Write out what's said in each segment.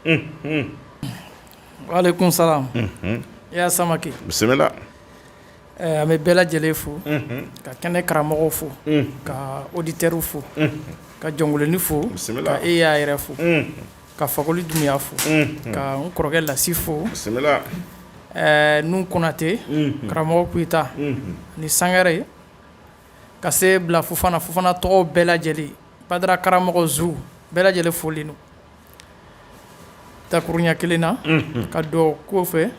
Mm -hmm. Wa alaikum salam. Mm -hmm. Ya Samake. Bisimila. Ɛɛ an bɛ bɛɛ lajɛlen fo. Mm -hmm. Ka kɛnɛ karamɔgɔw fo. Mm -hmm. Ka auditeurs fo. Mm -hmm. Ka jɔnkoloni fo. Bisimila. Ka e Ya yɛrɛ fo. Mm -hmm. Ka Fakoli Dunbiya fo. Mm -hmm. Ka n kɔrɔkɛ Lasi fo. Bisimila. Ɛɛ Nuhun Konate. Mm -hmm. Karamɔgɔ Koyita. Mm -hmm. Ni Sangare. ka se bila fofana fofana tɔgɔw bɛɛ lajɛlen badara karamɔgɔ zu bɛɛ lajɛlen folen don dakurunya kelen na ka dɔw ko fɛ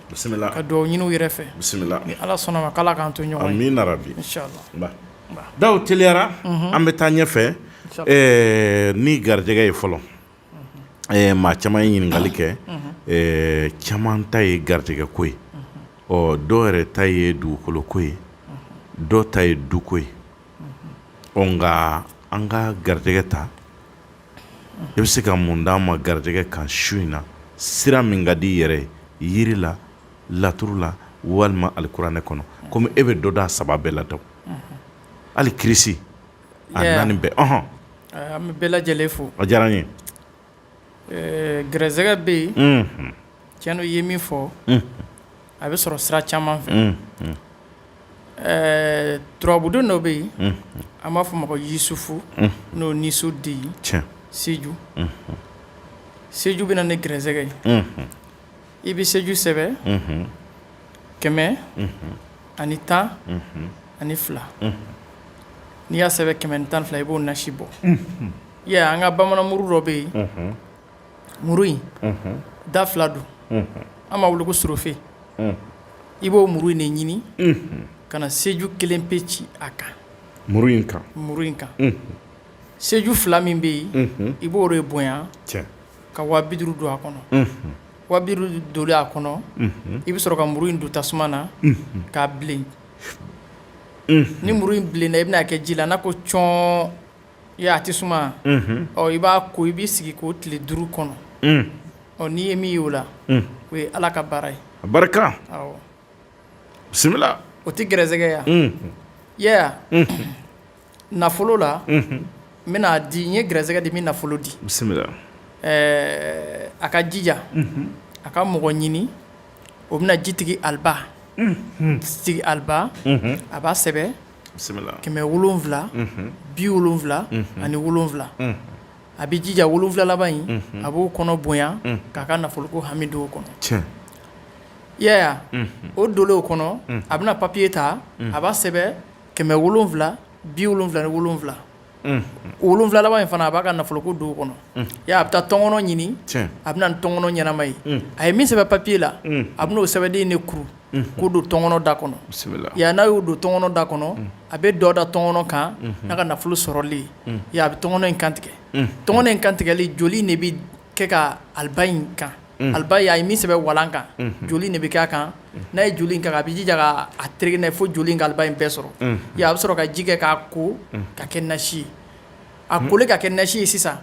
ka dɔw ɲini u yɛrɛ fɛ ni ala sɔnna a ma k'ala k'an to ɲɔgɔn ye amina daw teliyara an bɛ taa ɲɛfɛ ni garijɛgɛ ye fɔlɔ maa caman ye ɲininkakali kɛ caman ta ye garijɛgɛ ko ye ɔ dɔw yɛrɛ ta ye dugukolo ko ye dɔw ta ye duko ye ɔ nka an ka garijɛgɛ ta i bɛ se ka mun d'an ma garijɛgɛ kan su in na sira min ka di i yɛrɛ ye jiri la laturu la walima alikuranɛ kɔnɔ kɔmi e bɛ dɔ d'a saba bɛɛ la daw hali kirisi A naani bɛɛ ɔhɔn uh, an bɛ bɛɛ lajɛlen fo a diyara n ye uh, gɛrɛsɛgɛ bɛ yen mm -hmm. tiɲɛ don i ye min fɔ mm -hmm. a bɛ sɔrɔ sira caman fɛ mm -hmm. uh, turabuden dɔ bɛ yen mm -hmm. an b'a fɔ o ma ko yisufu mm -hmm. n'o nisu di seju mm -hmm. seju bɛ na ni gɛrɛsɛgɛ ye mm -hmm. i bɛ seju sɛbɛn kɛmɛ ani tan ani fila n'i y'a sɛbɛn kɛmɛ ni tan ni fila i b'o nasi bɔ ɛ an ka bamanan muru dɔ bɛ yen muru in da fila don an b'a wele ko sirife i b'o muru in de ɲini ka na seju kelen pe ci a kan muru in kan muru in kan seju fila min bɛ yen i b'o de bonya ka wa bi duuru don a kɔnɔ wa bi duuru donlen a kɔnɔ i bɛ sɔrɔ ka muru in don tasuma na k'a bilen ni muru in bilenna i bɛna a kɛ ji la n'a ko cɔn a tɛ suma ɔ i b'a ko i b'i sigi k'o tile duuru kɔnɔ ɔ n'i ye min y'o la o ye ala ka baara ye a barika bisimila o tɛ gɛrɛsɛgɛ ye nafolo la n bɛna a di n ye gɛrɛsɛgɛ di n bɛ nafolo di bisimila a ka jija a ka mɔgɔ ɲini o bɛna jitigi aliba sigi aliba a b'a sɛbɛn bisimila kɛmɛ wolonwula bi wolonwula ani wolonwula a bɛ jija wolonwula laban in a b'o kɔnɔ bonya k'a ka nafolo ko hami don o kɔnɔ o donlen o kɔnɔ a bɛna papiye ta a b'a sɛbɛn kɛmɛ wolonwula bi wolonwula ni wolonwula wolonwula laban in fana a b'a ka nafolo ko don o kɔnɔ a bɛ taa tɔnkɔnɔ ɲini a bɛ na ni tɔnkɔnɔ ɲɛnama ye a ye min sɛbɛn papiye la a bɛna o sɛbɛnden de kuru k'o don tɔnkɔnɔ da kɔnɔ yan n'a y'o don tɔnkɔnɔ da kɔnɔ a bɛ dɔ da tɔnkɔnɔ kan n'a ka nafolo sɔrɔli ye a bɛ tɔnkɔnɔ in kantigɛ tɔnkɔnɔ in kantigɛli joli de bɛ kɛ ka aliba in kan aliba a ye min sɛbɛn walan kan joli de bɛ kɛ a kan n'a ye joli kan a bɛ jija ka a tereke n'a ye fo joli ka aliba in bɛɛ sɔrɔ a bɛ sɔrɔ ka ji kɛ k'a ko ka kɛ nasi ye a kolen ka kɛ nasi ye sisan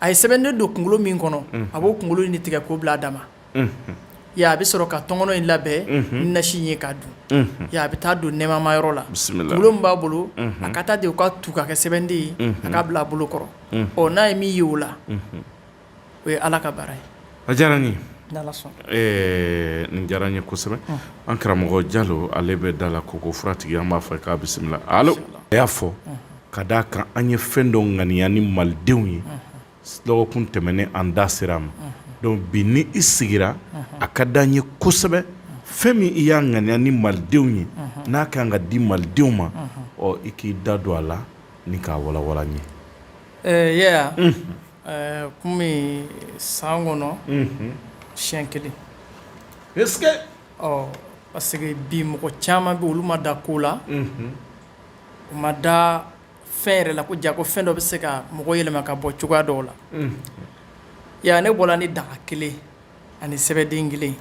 a ye sɛbɛnden don kunkolo min kɔnɔ a b'o kunkolo in de tigɛ k'o bila a dama a bɛ sɔrɔ ka tɔnkɔnɔ in labɛn ni nasi ye k'a dun a bɛ taa don nɛmama yɔrɔ la kunkolo min b'a bolo a ka taa de ka tu ka kɛ sɛbɛnden ye a k'a bila a bolo kɔrɔ ɔ n'a ye min ye o la o ye ala ka baara ye a diyara n ye nin diyara n ye kosɛbɛ an karamɔgɔ jalo ale bɛ da la koko furatigi an b'a fɔ k'a bisimila alo a y'a fɔ ka d'a kan an ye fɛn dɔ ŋaniya ni malidenw ye dɔgɔkun tɛmɛnen an da sera a ma donc bi ni i sigira a ka di an ye kosɛbɛ fɛn min i y'a ŋaniya ni malidenw ye n'a ka kan ka di malidenw ma ɔ i k'i da don a la ni k'a walawala n ye ɛɛ ya ɛɛ kɔmi san kɔnɔ siyɛn kelen ɔ parce que bi mɔgɔ caman bɛ olu ma da ko la u ma da fɛn yɛrɛ la ko jaa ko fɛn dɔ bɛ se ka mɔgɔ yɛlɛma ka bɔ cogoya dɔw la ya ne bɔra ni daga kelen ani sɛbɛnden kelen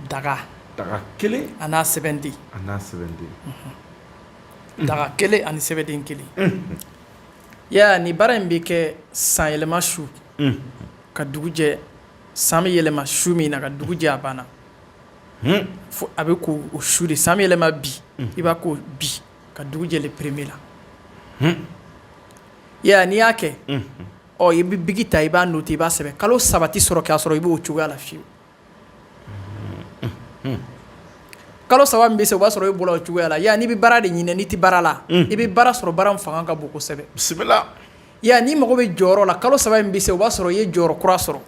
daga kelen a n'a sɛbɛnden daga kelen ani sɛbɛnden kelen ya ni baara in bɛ kɛ san yɛlɛma su ka dugu jɛ san bɛ yɛlɛma su min na ka dugu jɛ a banna fo a bɛ ko o su de san bɛ yɛlɛma bi i b'a ko bi ka dugu jɛ le premier la ya n'i y'a kɛ ɔ i bɛ biki ta i b'a noter i b'a sɛbɛn kalo saba tɛ sɔrɔ k'a sɔrɔ i b'o cogoya la fiyewu kalo saba min bɛ se o b'a sɔrɔ e bɔra o cogoya la yala n'i bɛ baara de ɲini n'i tɛ baara la i bɛ baara sɔrɔ baara min fanga ka bon kosɛbɛ bisimila yala n'i mago bɛ jɔyɔrɔ la kalo saba min bɛ se o b'a sɔrɔ i ye jɔyɔrɔ kura sɔrɔ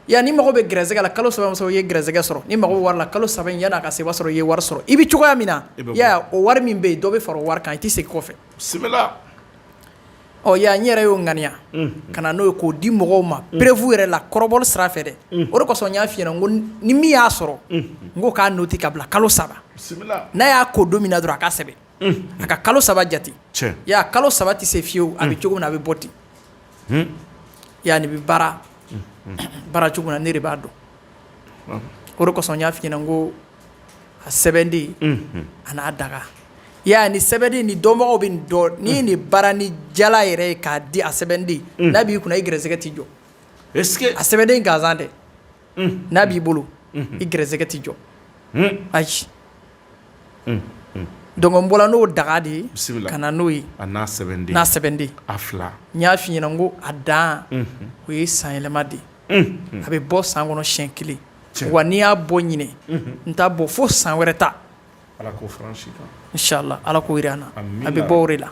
yala n'i mago bɛ gɛrɛsɛgɛ la kalo saba min bɛ se o b'a sɔrɔ i ye gɛrɛsɛgɛ sɔrɔ n'i mago bɛ wari la kalo saba in yanni a ka se o b'a sɔrɔ i ye wari sɔrɔ i bɛ cogoya min na i y'a ye o wari min bɛ yen dɔ bɛ fara o wari kan i tɛ segin kɔfɛ. bisimila ɔ ya n yɛrɛ y'o ŋaniya ka na n'o ye k'o di mɔgɔw ma preuve yɛrɛ la kɔrɔbɔli sira fɛ dɛ o de kosɔn n y'a f'i ɲɛna n ko ni min y'a sɔrɔ n ko k'a noter ka bila kalo saba n'a y'a ko don min na dɔrɔn a k'a sɛbɛn a ka kalo saba jate ya kalo saba tɛ se fiyewu a bɛ cogo min na a bɛ bɔ ten ya nin bɛ baara baara cogo min na ne de b'a dɔn o de kosɔn n y'a f'i ɲɛna ko a sɛbɛnden an'a daga ya ni sɛbɛnden ni dɔnbagaw bɛ nin dɔn ni nin baara ni jala yɛrɛ ye k'a di a sɛbɛnden n'a b'i kunna i gɛrɛsɛgɛ tɛ jɔ a sɛbɛnden gansan dɛ n'a b'i bolo i gɛrɛsɛgɛ tɛ jɔ ayi donc n bɔra n'o daga de ye ka na n'o ye n'a sɛbɛnden n y'a f'i ɲɛna ko a dan o ye san yɛlɛma de ye a bɛ bɔ san kɔnɔ siɲɛ kelen wa ni n y'a bɔ ɲinan n t'a bɔ fo san wɛrɛ ta inshallah ala ko jira an na a bɛ bɔ o de la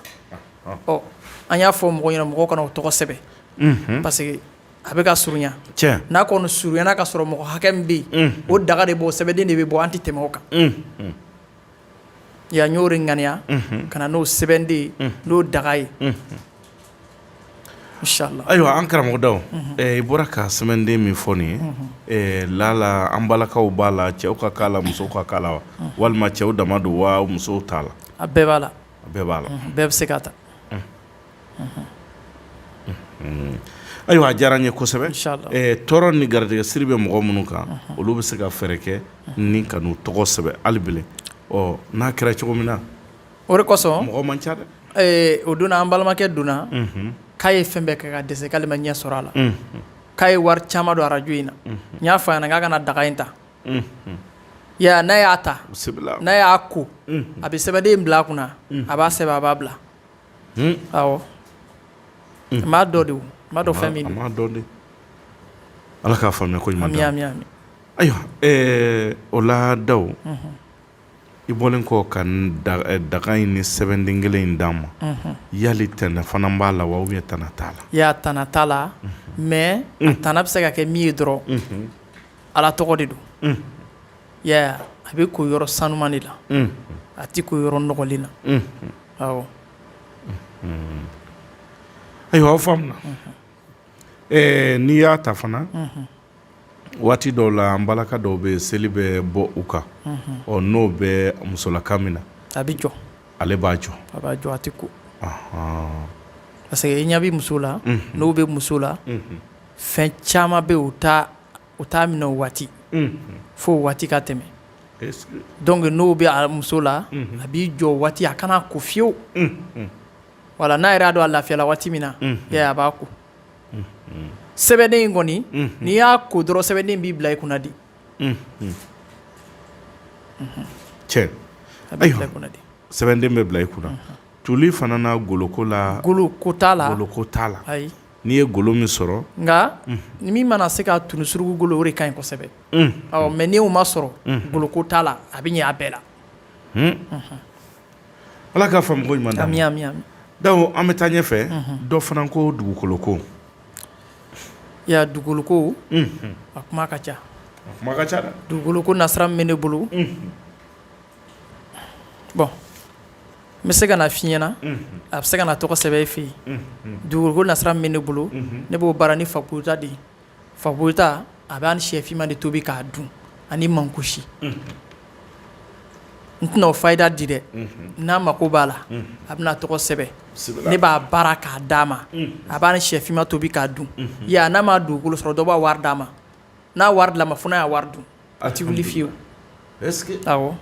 ɔ an y'a fɔ mɔgɔw ɲɛna mɔgɔw ka na u tɔgɔ sɛbɛn parce que a bɛ ka surunya n'a kɔni surunyana ka sɔrɔ mɔgɔ hakɛ min bɛ yen o daga de bɔ sɛbɛnden de bɛ bɔ an tɛ tɛmɛ o kan Y'o de ŋaniya ka na n'o sɛbɛnden n'o daga ye inshallah ayiwa an karamɔgɔ daw i bɔra ka sɛbɛnden min fɔ nin ye lala an balakaw b'a la cɛw ka k'a la musow ka k'a la wa walima cɛw dama don wa musow t'a la a bɛɛ b'a la bɛɛ b'a la bɛɛ bɛ se ka ta Ayiwa a diyara n ye kosɛbɛ tɔɔrɔ ni garijɛgɛsiri bɛ mɔgɔ minnu kan olu bɛ se ka fɛɛrɛ kɛ ni ka n'u tɔgɔ sɛbɛn hali bilen ɔ n'a kɛra cogo min na o de kosɔn mɔgɔ man ca dɛ o don na an balimakɛ dɔ nana k'a ye fɛn bɛɛ kɛ ka dɛsɛ k'ale ma ɲɛ sɔrɔ a la k'a ye wari caman don arajo in na n y'a fɔ a ɲɛna k'a ka na daga in ta ya n'a y'a ta n'a y'a ko a bɛ sɛbɛnden in bila a kunna a b'a sɛbɛn a b'a bila m'a dɔn de a m'a dɔn fɛn min don de ala k'a faamuya ko ɲuman d'a ma ayiwa o la daw i bɔlen kɔ ka daga in ni sɛbɛnden kelen in d'an ma yali tɛnɛ fana b'a la wa ou bien tana t'a la ayi a tana t'a la mais a tana bɛ se ka kɛ min ye dɔrɔn ala tɔgɔ de don a bɛ ko yɔrɔ sanuman de la a tɛ ko yɔrɔ nɔgɔlen na awɔ. ayiwa aw faamuna. ɛɛ n'i y'a ta fana. waati dɔw la an balaka dɔw bɛ yen seli bɛ bɔ u kan. ɔ n'o bɛ musolaka min na. a bɛ jɔ. ale b'a jɔ. a b'a jɔ a tɛ ko. parce que ni a bɛ muso la. n'o bɛ muso la. fɛn caman bɛ yen o t'a o t'a minɛ o waati fo o waati ka tɛmɛ dɔnku n'o bɛ a muso la a b'i jɔ o waati a kana ko fiyewu wala n'a yɛrɛ y'a dɔn a lafiyala waati min na a b'a ko sɛbɛnden in kɔni n'i y'a ko dɔrɔn sɛbɛnden b'i bila i kunna di cɛ sɛbɛnden bɛ bila i kunna tuli fana na goloko la goloko la goloko t'a la N'i ye golo min sɔrɔ nka min mana se ka tun surugu golo o de ka ɲi kosɛbɛ mais n'o ma sɔrɔ goloko t'a la a bɛ ɲɛ a bɛɛ la ala k'a faamu ko ɲuman d'a ma an bɛ taa ɲɛ fɛ dɔ fana ko dugukolo ko dugukolo ko a kuma ka ca a kuma ka ca dugukolo ko nasira min bɛ ne bolo bon n bɛ se ka na f'i ɲɛna a bɛ se ka na tɔgɔ sɛbɛn i fɛ yen dugukolo nasira min bɛ ne bolo ne b'o baara ni fakuyita de fakuyita a b'a ni shɛfima de tobi k'a dun ani mankusi n tɛna o fayida di dɛ n'a mako b'a la a bɛna tɔgɔ sɛbɛn ne b'a baara k'a d'a ma a b'a ni shɛfima tobi k'a dun n'a ma dugukolo sɔrɔ dɔ b'a wari d'a ma n'a wari dil'a ma fo n'a y'a wari dun A tɛ wuli fiyewu est ce que awɔ,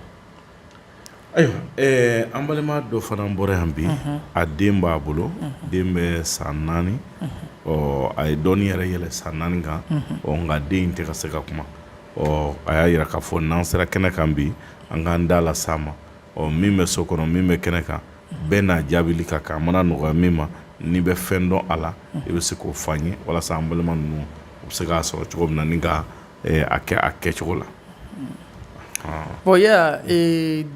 ayiwa ɛɛ an balima dɔ fana bɔra yan bi, unhun, a den b'a bolo, unhun, den bɛ san naani, unhun, ɔ a ye dɔɔnin yɛrɛ yɛlɛ san naani kan, unhun, ɔ nka den in tɛ ka se ka kuma, ɔ a y'a jira k'a fɔ n'an sera kɛnɛ kan bi an k'an da las'a ma, ɔ min bɛ so kɔnɔ min bɛ kɛnɛ kan bɛɛ n'a jaabili ka kan a mana nɔgɔya min ma n'i bɛ fɛn dɔn a la i bɛ se k'o f'an ye walasa an balima ninnu u bɛ se k'a sɔrɔ cogo min na ni ka a kɛ a kɛcogo la bon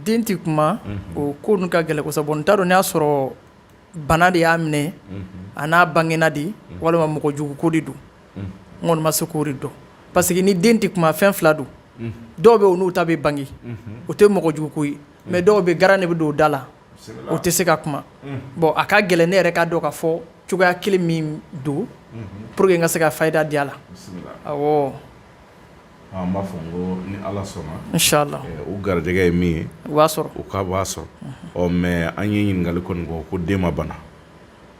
den tɛ kuma o ko ninnu ka gɛlɛn kosɛbɛ n t'a dɔn n'a y'a sɔrɔ bana de y'a minɛ a n'a bangena de walima mɔgɔ jugu ko de don n kɔni ma se k'o de dɔn parce que ni den tɛ kuma fɛn fila don dɔw bɛ olu ta bɛ bange o tɛ mɔgɔ jugu ko ye mais dɔw bɛ garan de bɛ don o da la o tɛ se ka kuma bon a ka gɛlɛn ne yɛrɛ ka dɔn ka fɔ cogoya kelen min don pour que n ka se ka fayida di a la awɔ an b'a fɔ ni ala sɔnna inshallah u garijɛgɛ ye min ye u b'a sɔrɔ u k'a sɔrɔ ɔ mais an ye ɲininkali kɔni kɛ ko den ma bana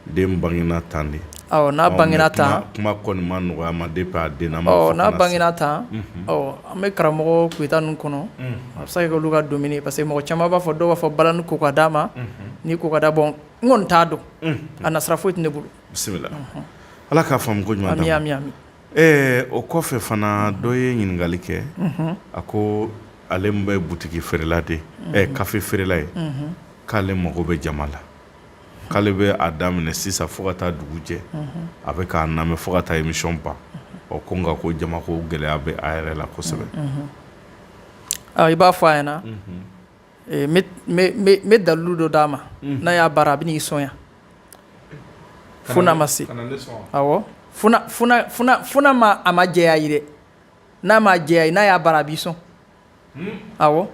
Den bangena tan de n'a bangena tan kuma kɔni ma nɔgɔya ma depuis a den n'a bangena tan an bɛ karamɔgɔ kuyita ninnu kɔnɔ a bɛ se ka kɛ olu k'a dɔn parce que mɔgɔ caman b'a fɔ dɔw b'a fɔ bala ni ko ka d'a ma ni ko ka d'a bon n kɔni t'a dɔn a nasira foyi tɛ ne bolo bisimila ala k'a faamu ko ɲuman d'a ma ami ɛɛ o kɔfɛ fana dɔ ye ɲininkali kɛ a ko ale bɛ butigi feerela de kafe feerela ye k'ale mago bɛ jama la k'ale bɛ a daminɛ sisan fo ka taa dugu jɛ a bɛ k'a namɛ fo ka taa émission ban ɔ ko nka ko jama ko gɛlɛya bɛ a yɛrɛ la kosɛbɛ i b'a fɔ a ɲɛna n bɛ dalilu dɔ d'a ma n'a y'a baara a bɛ n'i sɔn yan fo n'a ma se awɔ fo n'a ma a ma jɛya ye dɛ n'a ma jɛya ye n'a y'a baara a b'i sɔn awɔ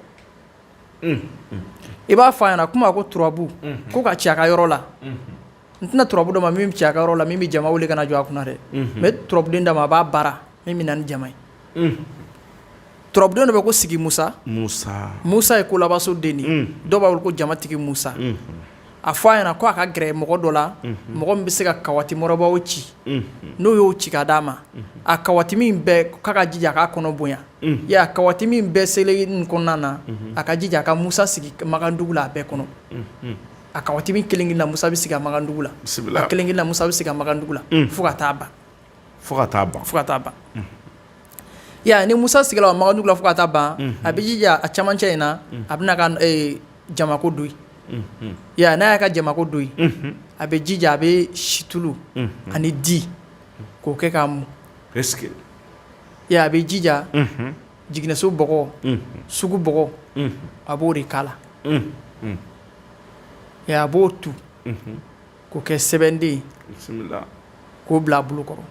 i b'a fɔ a ɲɛna kuma ko turabu ko ka ci a ka yɔrɔ la n tɛna turabu dɔ ma min bɛ ci a ka yɔrɔ la min bɛ jama wele ka na jɔ a kunna dɛ mais turabuden d'a ma a b'a baara min bɛ na ni jama ye turabuden dɔ bɛ ko sigi musa musa musa ye kolabaso den ye dɔw b'a wele ko jamatigi musa a fɔ a ɲɛna ko a ka gɛrɛ mɔgɔ dɔ la mɔgɔ min bɛ se ka kawati mɔrɔbaw ci n'o y'o ci ka d'a ma a kawatimi bɛɛ k'a ka jija a k'a kɔnɔ bonya y'a kawatimi bɛɛ selen nin kɔnɔna na a ka jija a ka musa sigi magandugu la a bɛɛ kɔnɔ a kawatimi kelen-kelen na musa bɛ sigi a magandugu la bisimila a kelen-kelen na musa bɛ sigi a magandugu la fo ka taa ban fo ka taa ban, fo ka taa ban, unhun, i y'a ye ni Musa sigila a Magandugu la fo ka taa ban, unhun, a bɛ jija a cɛmancɛ in na, unhun, a bɛna a ka jamako don yen, unhun, i y'a ye n'a y'a ka jamako don yen, unhun, a bɛ jija a bɛ situlu ani di k'o kɛ k'a mun, est ce que i y'a ye a bɛ jija, unhun, jiginɛso bɔgɔ, unhun, sugu bɔgɔ, unhun, a b'o de k'a la, unhun, i y'a ye a b'o tu. k'o kɛ sɛbɛnden ye k'o bila a bolo kɔrɔ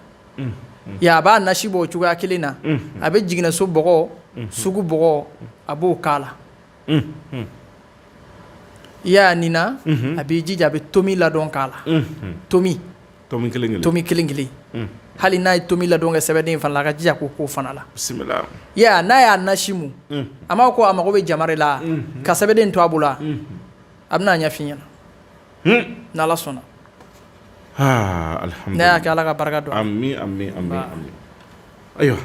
a b'a nasi bɔ o cogoya kelen na a bɛ jiginɛso bɔgɔ sugu bɔgɔ a b'o k'a la i y'a nin a b'i jija a bɛ tomi ladɔn k'a la tomi tomi tomi kelen kelen hali n'a ye tomi ladɔn kɛ sɛbɛnden fana la ka jija k'o k'o fana la n'a y'a nasi mun a ma ko a mago bɛ jama de la ka sɛbɛnden to a bolo a bɛn'a ɲɛf'i ɲɛna n'ala sɔnna ne y'a kɛ ala ka barika don ayiwa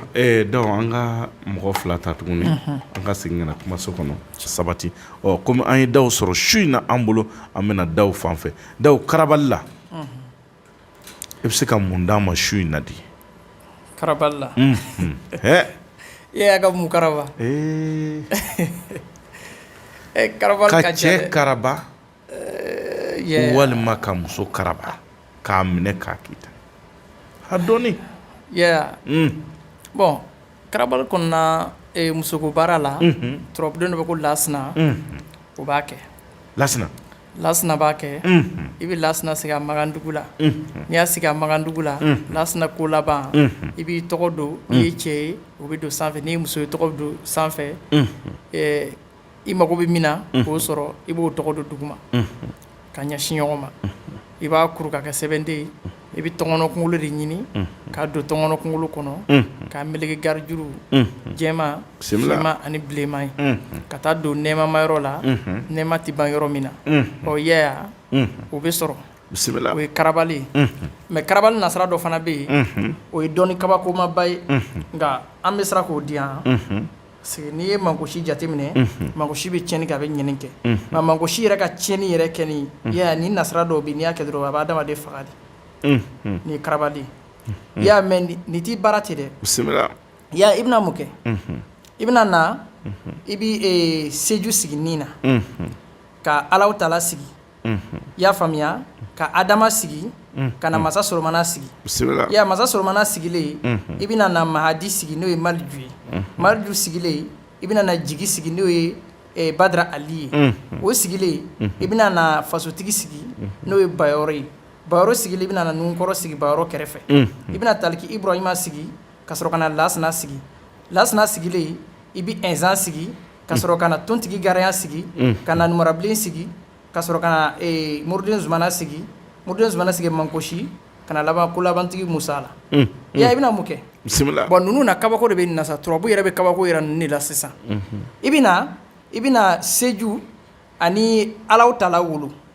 donc an ka mɔgɔ fila ta tuguni an ka segin ka na kumaso kɔnɔ sabati ɔ kɔmi an ye daw sɔrɔ su in na an bolo an bɛna daw fan fɛ daw karabali la i bɛ se ka mun d'an ma su in na di karabali la e y'a ka mun karaba ka cɛ karaba eh, walima ka muso karaba k'a minɛ k'a kita a dɔɔni mm. bon karabali kɔnɔna eh, musoko baara la mm-hmm. turabuden dɔ bɛ ko lasina mm-hmm. o b'a kɛ lasina lasina b'a kɛ mm-hmm. i bɛ lasina sigi a magandugu la n'i y'a sigi a magandugu la lasina ko laban i b'i tɔgɔ don n'i ye cɛ ye o bɛ don sanfɛ n'i ye muso ye tɔgɔ bɛ don sanfɛ eh, i mago bɛ min na k'o sɔrɔ i b'o tɔgɔ don duguma ka ɲɛsin ɲɔgɔn ma i b'a kuru ka kɛ sɛbɛnden ye i bɛ tɔnkɔnɔ kunkolo de ɲini k'a don tɔnkɔnɔ kunkolo kɔnɔ k'a meleke garijuru jɛma finma ani bilenma ye ka taa don nɛmama yɔrɔ la nɛma tɛ ban yɔrɔ min na ɔ yɛya o bɛ sɔrɔ bisimila o ye karabali ye mais karabali nasira dɔ fana bɛ yen o ye dɔɔni kabakomaba ye nka an bɛ siran k'o di yan Parce que n'i ye mangosi jateminɛ mangosi bɛ tiɲɛni kɛ a bɛ ɲɛni kɛ nka mangosi yɛrɛ ka tiɲɛni yɛrɛ kɛ ni nasira dɔw bɛ n'i y'a kɛ dɔrɔn a bɛ adamaden faga de ni karabali i y'a mɛ ni t'i baara ten dɛ bisimila i bɛna mun kɛ i bɛna na i bɛ seju sigi nin na ka alahu tala sigi i y'a faamuya ka adama sigi ka na masa solomana sigi ya masa solomana sigilen i bɛna na mahadi sigi n'o ye maliju ye maliju sigilen i bɛna na jigi sigi n'o ye badara ali ye o sigilen i bɛna na fasotigi sigi n'o ye bayɔrɔ ye bayɔrɔ sigilen i bɛna na nunkɔrɔ sigi bayɔrɔ kɛrɛfɛ i bɛna taliki ibrahima sigi ka sɔrɔ ka na lasana sigi lasana sigilen i bɛ ɛnzan sigi ka sɔrɔ ka na tontigi garayan sigi ka na numarabilen sigi ka sɔrɔ ka na moriden zumana sigi moriden zumana sigi mangosi ka na laban kolabantigi musa la ya i bɛna mun kɛ bisimila bon ninnu na kabako de bɛ nin na sa turabu yɛrɛ bɛ kabako yira ninnu de la sisan i bɛ i bɛna seju ani alahu tala wolo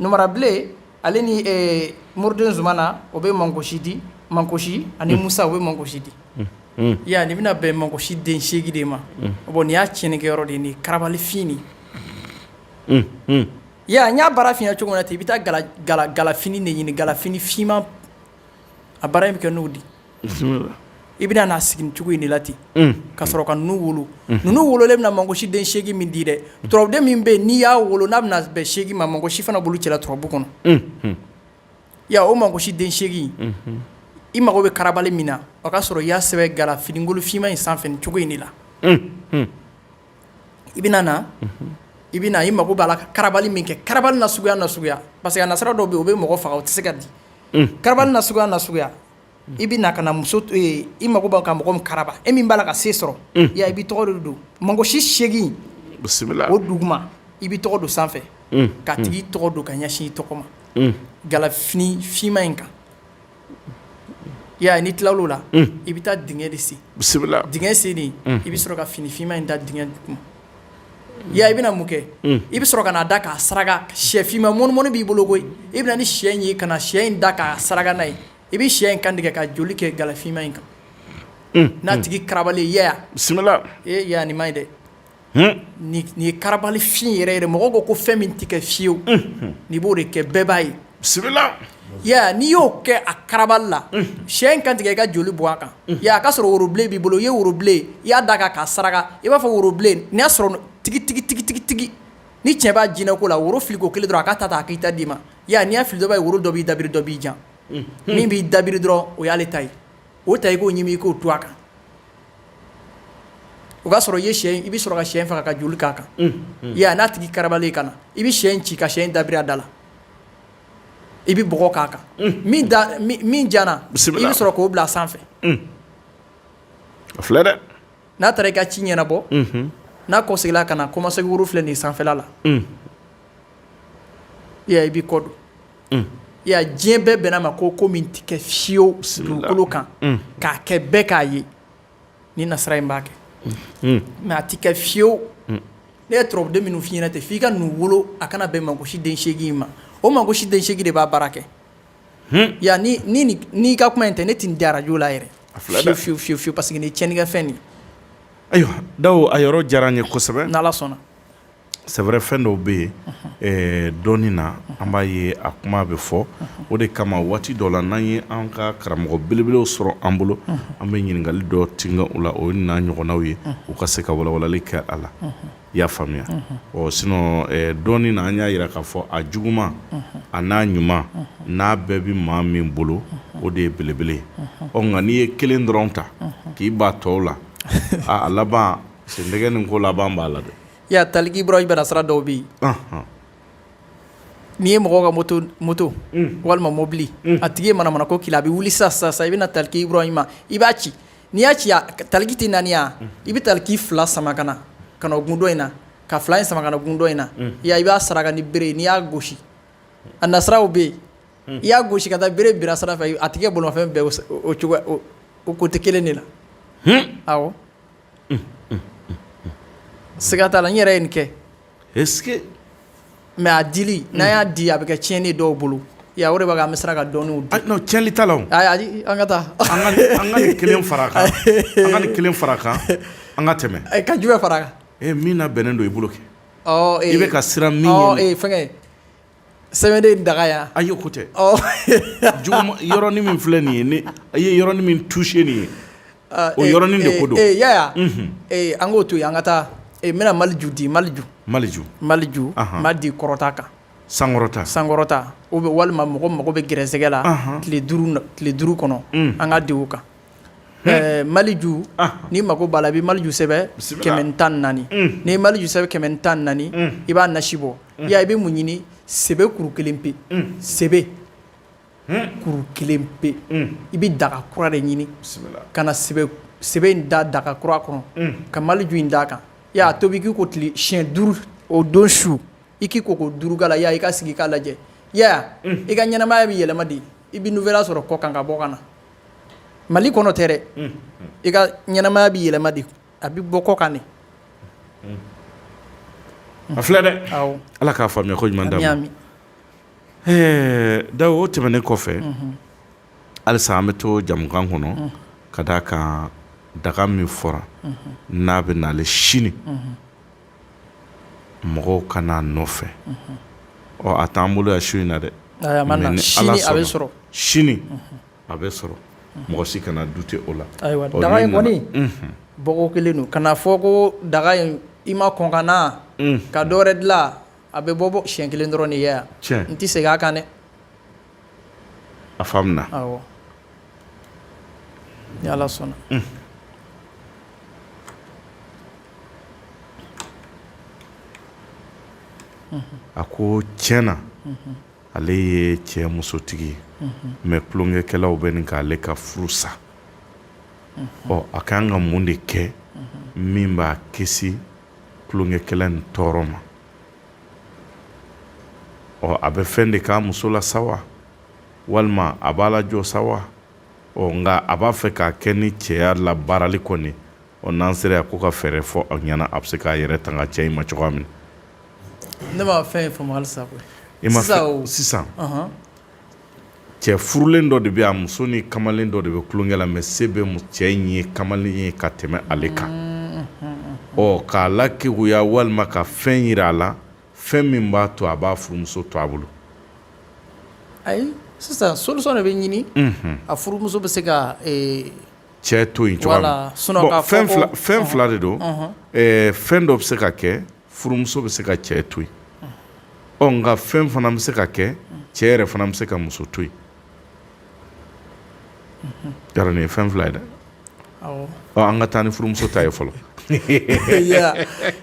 Numarabilen ale ni moriden zumana o bɛ mankosi di mankosi ani musa o bɛ mankosi di ya nin bɛna bɛn mankosi den seegin de ma bon nin y'a tiɲɛnikɛyɔrɔ de nin karabali fin in ya n y'a baara f'i ɲɛna cogo min na ten i bɛ taa galafini de ɲini galafini finman a baara in bɛ kɛ n'o di i bɛna n'a sigi nin cogo in de la ten ka sɔrɔ ka ninnu wolo ninnu wololen bɛna mankosi den seegin min di dɛ turabuden min bɛ n'i y'a wolo n'a bɛna bɛn seegin ma mankosi fana bolo cɛla turabu kɔnɔ ya o mankosi den seegin i mago bɛ karabali min na o y'a sɔrɔ i y'a sɛbɛn galafinikolon finman in sanfɛ nin cogo in de la i bɛna na i bɛ i mako b'a la ka karabali min kɛ karabali na suguya na suguya parce que a nasira dɔw bɛ o bɛ mɔgɔ faga o tɛ se ka di karabali na suguya na suguya i bɛ na ka na muso to yen i mako b'a ka mɔgɔ min karaba e min b'a la ka se sɔrɔ ya i b'i tɔgɔ de don mankosi seegin o duguma i b'i tɔgɔ don sanfɛ k'a tigi tɔgɔ don ka ɲɛsin i tɔgɔ ma galafini finman in kan ya n'i tilal'o la i bɛ taa dingɛ de sen bisimila dingɛ sennen i bɛ sɔrɔ ka fini finman in da dingɛ duguma Ya i bɛna mun kɛ i bɛ sɔrɔ ka na a da k'a saraka shɛ finman mɔnimɔni b'i bolo koyi i bɛna ni shɛ in ye ka na shɛ in da k'a saraka n'a ye i bɛ shɛ in kan tigɛ ka joli kɛ galafinman in kan n'a tigi karabali ye ya bisimila ee ya nin man ɲi dɛ nin ye karabali fin yɛrɛ yɛrɛ mɔgɔ ko ko fɛn min tɛ kɛ fiyewu n'i b'o de kɛ bɛɛ b'a ye bisimila ya n'i y'o kɛ a karabali la sɛ in kan tigɛ i ka joli bɔ a kan ya a ka sɔrɔ worobilen b'i bolo i ye worobilen ye i y'a d'a kan k'a saraka i b'a fɔ worobilen n'a sɔrɔ tigi tigi tigi tigi tigi ni cɛ b'a jinɛ ko la woro filiko kelen dɔrɔn a k'a ta ta a k'i ta d'i ma ya n'i y'a fili dɔ b'a ye woro dɔ b'i dabiri dɔ b'i jan min b'i dabiri dɔrɔn o y'ale ta ye o ta i k'o ɲimi i k'o tu a kan o k'a sɔrɔ i ye sɛ i bɛ sɔrɔ ka sɛ in faga ka joli k'a kan ya n'a tigi karabalen ka na i bɛ sɛ in ci ka sɛ in dabiri a da la i bɛ bɔgɔ k'a kan min jara i bɛ sɔrɔ k'o bila sanfɛ filɛ dɛ n'a taara i ka ci ɲɛnabɔ n'a kɔsegila ka na koma se woro filɛ nin sanfɛla la ya i b'i kɔ don ya diɲɛ bɛɛ bɛnn'a ma ko ko min tɛ kɛ fiyewu dugukolo kan k'a kɛ bɛɛ k'a ye Ni nasira in b'a kɛ mɛ a tɛ kɛ fiyewu ne ye turabuden minnu f'i ɲɛna ten f'i ka ninnu wolo a kana bɛn Mangosi den seegin in ma o Mangosi den seegin de b'a baara kɛ ya n'i ka kuma in tɛ ne tɛ nin di arajo la yɛrɛ a fiyewu fiyewu fiyewu paseke nin ye tiɲɛnikɛ fɛn ayiwa da a yɔrɔ diyara n ye kosɛbɛ n' sɔnna c'est vrai fɛn dɔw bɛ yen eh, dɔɔni na an b'a ye a kuma bɛ fɔ o de kama waati dɔ la n'an ye an ka karamɔgɔ belebelew sɔrɔ an bolo an bɛ ɲininkali dɔ tinka u la o ye n'a ɲɔgɔnnaw ye u ka se ka walawalali kɛ a la i y'a faamuya ɔ sinɔn eh, dɔɔni na an y'a yira k'a fɔ a juguman a n'a ɲuman n'a bɛɛ bɛ maa min bolo o de ye belebele ye ɔ nka n'i ye kelen dɔrɔn ta k'i ban tɔw la a a laban sendɛgɛ nin ko laban b'a la dɛ ya Taliki Ibrahima nasira dɔw bɛ yen n'i ye mɔgɔ ka moto moto walima mɔbili a tigi ye manamana ko k'i la a bɛ wuli sisan i bɛna na Taliki Ibrahima i b'a ci n'i y'a ci Taliki tɛ naani ya i bɛ Taliki fila sama ka na ka na gun dɔ in na ka fila in sama ka na gun dɔ in na ya i b'a saraka ni bere n'i y'a gosi a nasiraw bɛ yen i y'a gosi ka taa bere bira sira fɛ a tigi bolimafɛn bɛɛ o cogo o côté kelen de la awɔ Siga t'a la n yɛrɛ ye nin kɛ est ce que mais a dili n'an y'a di a bɛ kɛ tiɲɛni ye dɔw bolo ya o de b'a kɛ an bɛ siran ka dɔnniw di non tiɲɛli t'a la o ayi a di an ka taa an ka nin an ka nin kelen fara a kan an ka nin kelen fara a kan an ka tɛmɛ ka jumɛn fara a kan ee min labɛnnen don i bolo kɛ ɔ ee i bɛ ka siran min ɲɛ ɔ ee fɛngɛ sɛbɛnden daga yan ayi ko tɛ yɔrɔnin min filɛ nin ye ne a ye yɔrɔnin min touché nin ye o yɔrɔnin de ko don Yaya an k'o to yen an ka taa n bɛna maliju di maliju maliju maliju ma di kɔrɔta kan sankɔrɔta sankɔrɔta o bɛ walima mɔgɔ mago bɛ gɛrɛsɛgɛ la tile duuru kɔnɔ an k'a di o kan Ɛɛ maliju n'i mako b'a la i bɛ maliju sɛbɛn kɛmɛ tan naani n'i ye maliju sɛbɛn kɛmɛ tan naani i b'a nasi bɔ ya i bɛ mun ɲini sebe kuru kelen pe sebe kuru kelen pe i bɛ daga kura de ɲini ka na sebe in da daga kura kɔnɔ ka maliju in d'a kan a tobi k'i ko tile siɲɛ duuru o don su i k'i ko ko duuru k'a la ya i ka sigi k'a lajɛ ya i ka ɲɛnamaya bɛ yɛlɛma di i bɛ nouvelle sɔrɔ kɔkan ka bɔ ka na mali kɔnɔ tɛ dɛ i ka ɲɛnamaya bɛ yɛlɛma di a bɛ bɔ kɔkan de a filɛ dɛ ala k'a faamuya ko ɲuman d'a ma dawu o tɛmɛnen kɔfɛ halisa an bɛ to jamukan kɔnɔ ka d'a kan daga min fɔra n'a bɛ naale sini mɔgɔw ka n'a nɔfɛ ɔ a t'an bolo yan su in na dɛ sini a bɛ sɔrɔ mɔgɔ si kana dute o la ayiwa daga in kɔni bɔko kelen don kana fɔ ko daga in i ma kɔn ka na ka dɔwɛrɛ dilan a bɛ bɔ bɔ siɲɛ kelen dɔrɔn de yan n tɛ segin a kan dɛ a faamuna awɔ ni ala sɔnna a ko tiɲɛ na ale ye cɛ musotigi ye mɛ tulonkɛkɛlaw bɛ ɲini k'ale ka furu sa ɔ a ka kan ka mun de kɛ min b'a kisi tulonkɛkɛla ni tɔɔrɔ ma ɔ a bɛ fɛn de k'a muso la sa wa walima a b'a lajɔ sa wa ɔ nka a b'a fɛ k'a kɛ ni cɛya la baarali kɔni ɔ n'an sera yan ko ka fɛɛrɛ fɔ a ɲɛna a bɛ se k'a yɛrɛ tanga cɛ in ma cogoya min na. ne ma fɛn in faamu halisa koyi. i ma fɛn sisan. cɛ furulen dɔ de bɛ a muso ni kamalen dɔ de bɛ tulonkɛ la mɛ se bɛ cɛ in ye kamalen ye ka tɛmɛ ale kan ɔ k'a lakeguya walima ka fɛn jira a la fɛn min b'a to a b'a furumuso to a bolo ayi sisan solisɔn de bɛ ɲini a furumuso bɛ se ka cɛ to yen cogo fɛn fila de don fɛn dɔ bɛ se ka kɛ furumuso bɛ se ka cɛ to yen ɔ nka fɛn fana bɛ se ka kɛ cɛ yɛrɛ fana bɛ se ka muso to yen yɔrɔ nin ye fɛn fila ye dɛ an ka taa ni furumuso ta ye fɔlɔ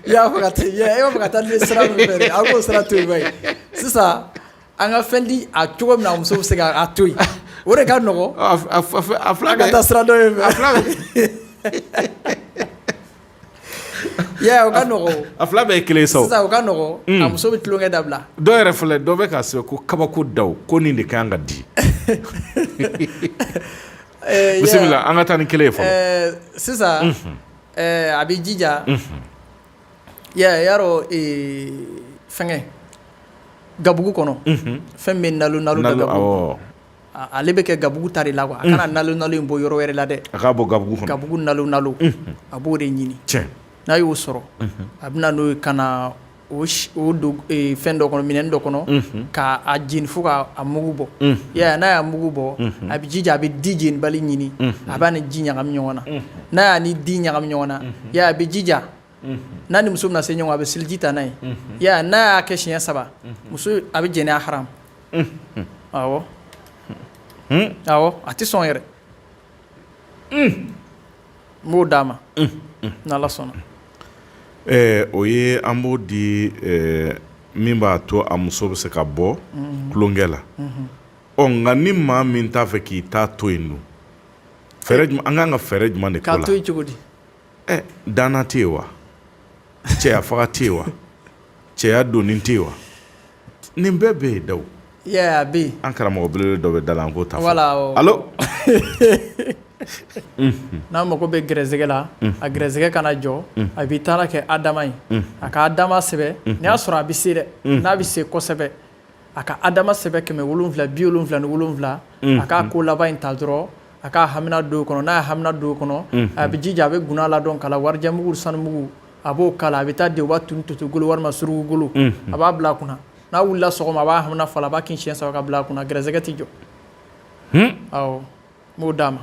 y'a fɔ ka e ka taa ni sira min fɛ a k'o sira to yen sisan an ka fɛn di a cogo min na muso bɛ se ka to yen o de ka nɔgɔ a fila ka taa sira dɔ ye fila I y'a ye o ka nɔgɔn o, a fila bɛɛ ye kelen ye sa o, sisan o ka nɔgɔn a muso bɛ tulonkɛ dabila dɔ yɛrɛ filɛ dɔ bɛ k'a sɛbɛn ko kabako Dawu ko nin de ka kan ka di Eh, bisimila yeah. an ka taa ni kelen ye fɔlɔ Eh, sisan eh, a bɛ jija ya y'a dɔn eh, fɛngɛ gabugu kɔnɔ fɛn min bɛ nalo nalo da Nalo, gabugu awɔ. Ale bɛ kɛ gabugu ta de la a kana nalo in bɔ yɔrɔ wɛrɛ la dɛ a k'a bɔ gabugu kɔnɔ gabugu nalo a b'o de ɲini n'a y'o sɔrɔ a bɛ na n'o ye ka na o don fɛn dɔ kɔnɔ minɛn dɔ kɔnɔ k'a jeni fo k'a mugu bɔ ɛ n'a y'a mugu bɔ a bɛ jija a bɛ di jenibali ɲini a b'a ni di ɲagami ɲɔgɔn na n'a y'a ni di ɲagami ɲɔgɔn na a bɛ jija n'a ni muso bɛna se ɲɔgɔn a bɛ seliji ta n'a ye n'a y'a kɛ siɲɛ saba muso a bɛ jɛnɛya ha awɔ awɔ a tɛ sɔn yɛrɛ n b'o d'a ma n'ala sɔnna ɛɛ o ye an b'o di ɛɛ min b'a to a muso bɛ se ka bɔ tulonkɛ la ɔ nka ni maa min t'a fɛ k'i ta to yen dun fɛɛrɛ jumɛn an kan ka fɛɛrɛ jumɛn de k'o la k'a to yen cogo di ɛ danna tɛ yen wa cɛya faga tɛ yen wa cɛya donni tɛ yen wa nin bɛɛ bɛ yen Dawu, i y'a ye a bɛ yen, an karamɔgɔ belebele dɔ bɛ da la an k'o ta fɔlɔ, voila, awɔ, allo, unhun, n'a mago bɛ gɛrɛsɛgɛ la, unhun, a gɛrɛsɛgɛ kana jɔ, unhun, a b'i taara kɛ Adama ye, unhun, a ka Adama sɛbɛ, unhun, n'i y'a sɔrɔ a bɛ se dɛ, unhun, n'a bɛ se kosɛbɛ, a ka Adama sɛbɛn kɛmɛ wolonwula bi wolonwula ni wolonwula, unhun, a k'a ko laban in ta dɔrɔn, a k'a hamina don o kɔnɔ, n'a ye hamina don o kɔnɔ, unhun, a bɛ jija a bɛ guna ladɔn k'a la warijɛmugu sanumugu a b'o kala a bɛ taa di u b'a tun totogolo walima surukugolo a b'a bila a kunna n'a wulila sɔgɔma a b'a hamina fɔ a b'a kin siɲɛ saba ka bila a kunna gɛrɛsɛgɛ tɛ jɔ ɔ n b'o d'a ma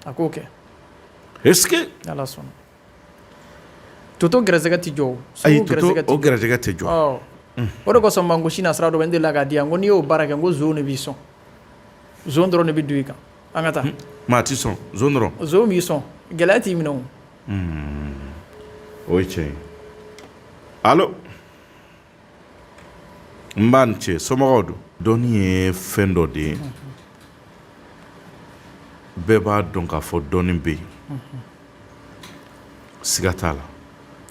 a k'o kɛ ala sɔnna toto gɛrɛsɛgɛ tɛ jɔ gɛrɛsɛgɛ tɛ jɔ o de kosɔn man ko sina sira dɔ bɛ n delila k'a di yan ko n'i y'o baara kɛ ko zon de b'i sɔn zon dɔrɔn de bɛ don i kan an ka taa maa t'i sɔn zon dɔrɔn b'i sɔn gɛlɛya t'i minɛ Hmm. O ye tiɲɛ ye alo nba a ni ce somɔgɔw don dɔnni ye fɛn dɔ de ye bɛɛ b'a dɔn k'a fɔ dɔnni bɛ yen siga t'a la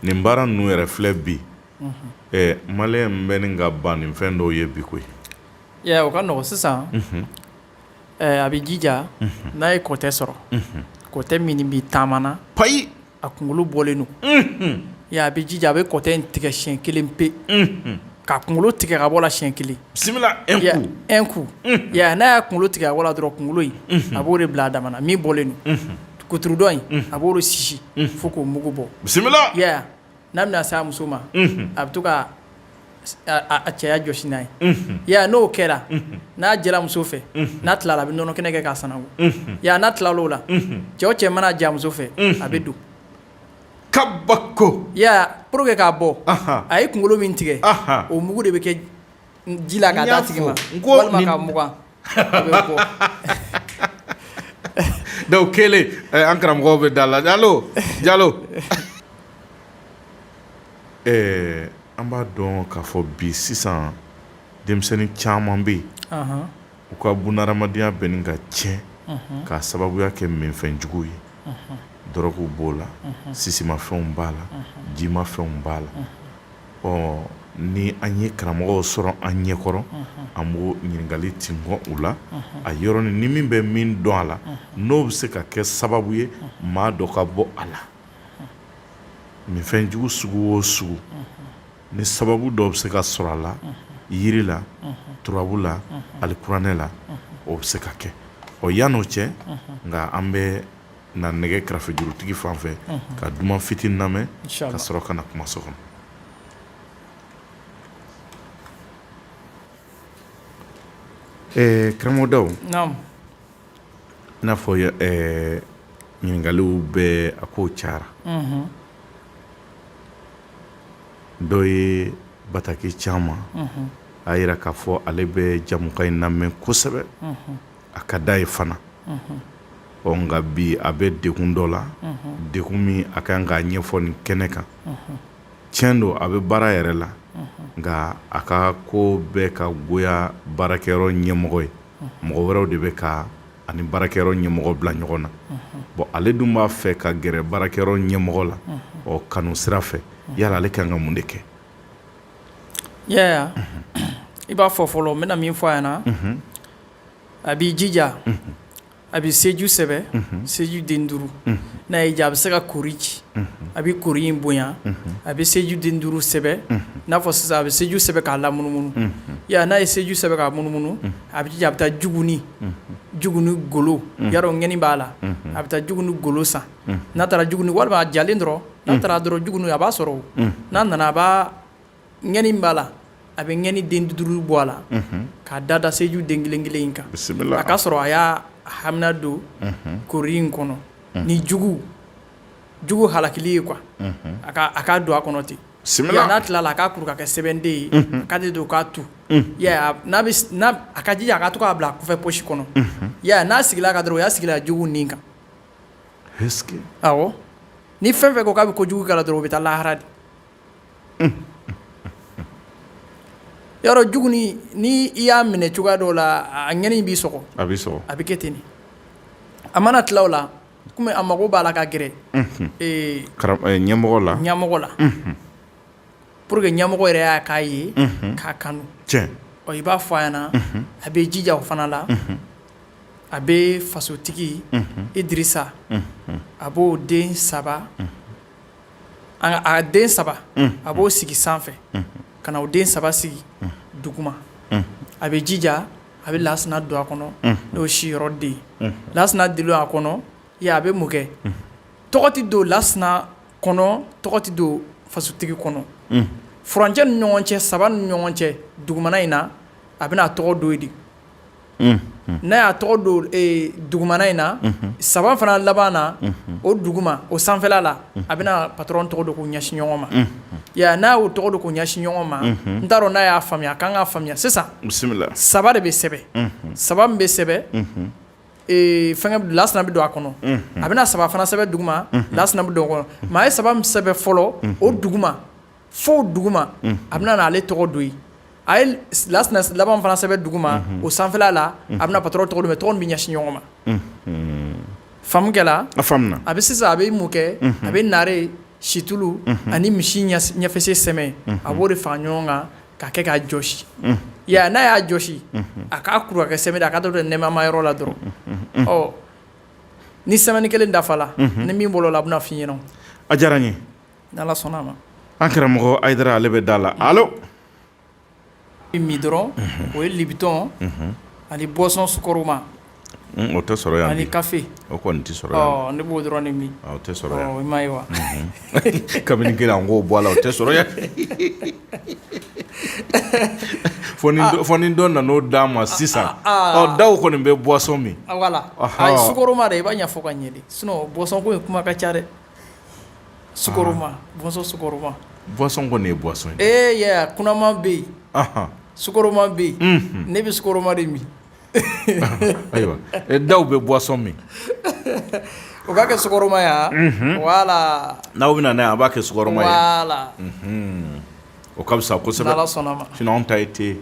nin baara ninnu yɛrɛ filɛ bi ɛ maliyɛn bɛ nin ka ban nin fɛn dɔw ye bi koyi ya o ka nɔgɔn sisan A bɛ jija n'a ye kɔtɛ sɔrɔ kɔtɛ min bɛ taama na payi a kunkolo bɔlen don a bɛ jija a bɛ kɔtɛ in tigɛ siyɛn kelen pe ka kunkolo tigɛ ka bɔ la siyɛn kelen bisimila un coup n'a y'a kunkolo tigɛ ka bɔ la dɔrɔn kunkolo in a b'o de bila a dama na min bɔlen don kuturudɔn in a b'o de sisi fo k'o mugu bɔ bisimila n'a bɛna se a muso ma a bɛ to ka a cɛya jɔsi n'a ye n'o kɛra n'a jɛra muso fɛ n'a tilala a bɛ nɔnɔ kɛnɛ kɛ k'a sananko n'a tilala o la cɛ o cɛ mana j'a muso fɛ a bɛ don kabako pour que k'a bɔ a ye kunkolo min tigɛ o mugu de bɛ kɛ ji la k'a d'a tigi ma walima k'a mugan dɔw kɛlen an karamɔgɔ bɛ da la jalo jalo ɛɛ an b'a dɔn k'a fɔ bi sisan denmisɛnnin caman bɛ yen u ka bunadamadenya bɛnnen ka tiɲɛ k'a sababuya kɛ minfɛnjugu ye dɔrɔguw b'o la sisimafɛnw b'a la jimafɛnw b'a la ɔ ni an ye karamɔgɔw sɔrɔ an ɲɛkɔrɔ an b'o ɲininkali tin bɔ u la a yɔrɔnin ni min bɛ min dɔn a la n'o bɛ se ka kɛ sababu ye maa dɔ ka bɔ a la minfɛnjugu sugu o sugu ni sababu dɔ bɛ se ka sɔrɔ a la yiri la turabu la alikuranɛ la o bɛ se ka kɛ ɔ yan n'o cɛ nka an bɛ Na nɛgɛ kɛrɛfɛ jurutigi fan fɛ ka duman fitinin lamɛn ka sɔrɔ ka na kumaso kɔnɔ karamɔgɔ Dawu i n'a fɔ ɲininkaliw bɛ a kow cayara dɔ ye bataki ci an ma a yira k'a fɔ ale bɛ jamukan in lamɛn kosɛbɛ a ka d'a ye fana ɔ nka bi a bɛ degun dɔ la degun min a kan k'a ɲɛfɔ nin kɛnɛ kan tiɲɛ don a bɛ baara yɛrɛ la nka a ka ko bɛ ka goya baarakɛyɔrɔ ɲɛmɔgɔ ye mɔgɔ wɛrɛw de bɛ ka ani baarakɛyɔrɔ ɲɛmɔgɔ bila ɲɔgɔn na bon ale dun b'a fɛ ka gɛrɛ baarakɛyɔrɔ ɲɛmɔgɔ la ɔ kanu sira fɛ yala ale kan ka mun de kɛ i b'a fɔ fɔlɔ n bɛna min fɔ a ɲɛna a b'i jija a bɛ seju sɛbɛ seju den duuru n'a y'a diya a bɛ se ka kori ci a bɛ kori in bonya a bɛ seju den duuru sɛbɛ n'a fɔ sisan a bɛ seju sɛbɛn k'a lamunumunu n'a ye seju sɛbɛn k'a munumunu a bɛ jija a bɛ taa juguni juguni golo yɔrɔ ŋɛni b'a la a bɛ taa juguni golo san n'a taara juguni walima a jalen dɔrɔn n'a taara dɔrɔn juguni a b'a sɔrɔ n'a nana a' ŋɛni b'a la a bɛ ŋɛni den duuru bɔ a la k'a da da seju den kelen kelen in kan a k'a sɔrɔ a y'a hamina don kori in kɔnɔ ni jugu jugu halakili ye quoi a k'a don a kɔnɔ ten n'a tilala a k'a kuru ka kɛ sɛbɛnden ye a k'a de don k'a tu a ka jija a ka to k'a bila a kɔfɛ posi kɔnɔ n'a sigira a kan dɔrɔn o y'a sigila jugu nin kan awɔ ni fɛn fɛn ko k'a bɛ kojugu k'a la dɔrɔn o bɛ taa lahara de Yɔrɔ jugunin ni i y'a minɛ cogoya dɔ la a ŋɛni b'i sɔgɔ a bɛ kɛ ten a mana tila o la kɔmi a mago b'a la ka gɛrɛ ɲɛmɔgɔ la pour que ɲɛmɔgɔ yɛrɛ y'a k'a ye k'a kanu cɛ i b'a fɔ a ɲɛna a bɛ jija o fana la a bɛ fasotigi Idirisa a b'o den saba a den saba a b'o sigi sanfɛ ka na o den saba sigi duguma a bɛ jija a bɛ lasina don a kɔnɔ n'o si yɔrɔ den lasina de don a kɔnɔ a bɛ mun kɛ tɔgɔ tɛ don lasina kɔnɔ tɔgɔ tɛ don fasotigi kɔnɔ furancɛ ni ɲɔgɔn cɛ saba ni ɲɔgɔn cɛ dugumana in na a bɛna a tɔgɔ don yen de n'a y'a tɔgɔ don dugumana in na saba fana laban na o duguma o sanfɛla la a bɛna patron tɔgɔ don k'o ɲɛsin ɲɔgɔn ma n'a y'o tɔgɔ don k'o ɲɛsin ɲɔgɔn ma n t'a dɔn n'a y'a faamuya a kan k'a faamuya sisan saba de bɛ sɛbɛn saba min bɛ sɛbɛn fɛngɛ lasina bɛ don a kɔnɔ a bɛna saba fana sɛbɛn duguma lasina bɛ don o kɔnɔ maa ye saba min sɛbɛn fɔlɔ o duguma fo duguma a bɛna na ale tɔgɔ don yen a ye lasina laban fana sɛbɛn duguma o sanfɛla la a bɛna patron tɔgɔ don tɔgɔ bɛ ɲɛsin ɲɔgɔn ma faamu kɛla a bɛ sisan a bɛ mun kɛ a bɛ naare situlu ani misi ɲɛfɛsen sɛmɛ a b'o de fara ɲɔgɔn kan ka kɛ k'a jɔsi n'a y'a jɔsi a k'a kuru ka kɛ sɛbɛn a ka don ɲɛmaa yɔrɔ la dɔrɔn ni semaine kelen dafala ni min bolo la a bɛna fɔ i ɲɛna a diyara n ye Ni Ala sɔnna a ma. An karamɔgɔ Ayidara ale bɛ da la. Allo! Bɛ min dɔrɔn. Unhun! O ye libitɔn. Unhun! Ani boisson sukɔrɔma. Un! O tɛ sɔrɔ yan bi. Ani kafe. O kɔnni tɛ sɔrɔ yan bi. Ɔɔ! Ne b'o dɔrɔn de min. O tɛ sɔrɔ yan. Ɔɔ! I m'a ye wa? Unhun! Kabini kelen an k'o bɔ a la, o tɛ sɔrɔ yan. Fɔ ni dɔ, fɔ ni dɔ nan'o d'an ma sisan. Aa! Aa! Aa! Ɔ! Daw kɔnni bɛ boisson min. Ɔ! Wala. Ɔhɔɔ! Ayi sukɔrɔma dɛ, i b'a ɲɛfɔ ka ɲɛ de sinon boisson ko in kuma ka ca dɛ. Sma bɔnsɔn sma bɔnsɔn kɔni ne ye bɔnsɔn ee y'a kunnaman bɛ yen sma bɛ yen ne bɛ sma de min ayiwa da bɛ bɔnsɔn min o b'a kɛ sma yan wala n'aw bɛ na a b'a kɛ sma o ka fisa ko saba sɔnna ta ye tɛ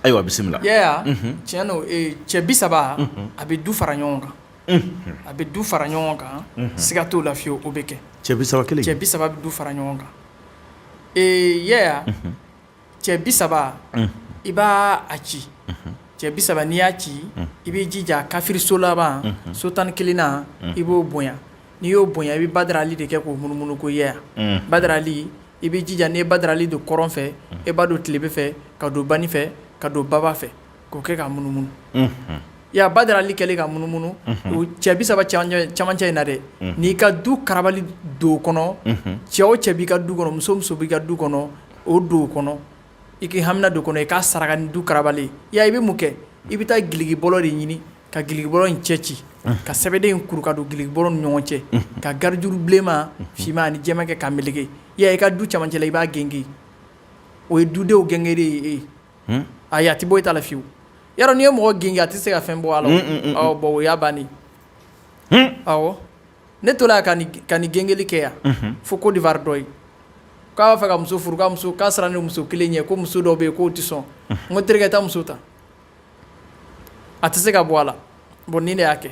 ayiwa bisimila tiɲɛ cɛ bi saba a bɛ du fara ɲɔgɔn kan a bɛ du fara ɲɔgɔn kan siga t'o la fiyewu o bɛ kɛ cɛ bi saba kelen cɛ bi saba bɛ du fara ɲɔgɔn kan ee yɛya cɛ bi saba i b'a ci cɛ bi saba n'i y'a ci i b'i jija kafiri so laban so tan ni kelennan i b'o bonya n'i y'o bonya i bɛ Badara Ali de kɛ k'o munumunu ko yɛya Badara Ali i b'i jija n'i ye Badara Ali don kɔrɔn fɛ i b'a don tilebin fɛ k'a don banin fɛ k'a don baba fɛ k'o kɛ ka munumunu, unhun, i y'a ye Badara Ali kɛlen ka munumunu, unhun, o cɛ 30 cɛmancɛ in na dɛ, unhun, n'i ka du karabali don o kɔnɔ, unhun, cɛ o cɛ b'i ka du kɔnɔ, muso o muso b'i ka du kɔnɔ, o don o kɔnɔ, i k'i hamina don o kɔnɔ, i k'a saraka ni du karabali ye, i y'a ye i bɛ mun kɛ? i bɛ taa giliki bɔlɔ de ɲini ka giliki bɔlɔ in cɛ ci, unhun, ka sɛbɛden in kuru ka don giliki bɔlɔ ni ɲɔgɔn cɛ, unhun, ka garijuru bilenman, finman ani jɛman kɛ k'a meleke, i y'a ye i ka du cɛmancɛ la i b'a gengen, o ye dudenw gengenli ye. ayi a tɛ bɔ i ta la fiyewu yarɔ n'i ye mɔgɔ gengen a tɛ se ka fɛn bɔ a la bon o y'a bannen awɔ ne tola yan ka nin gengenli kɛ yan fo Côte d'Ivoire dɔ ye k'a b'a fɛ ka muso furu muso k'a sɔrɔ ni muso kelen ye ko muso dɔ bɛ yen k'o tɛ sɔn n ko terikɛ taa muso ta a tɛ se ka bɔ a la bon nin de y'a kɛ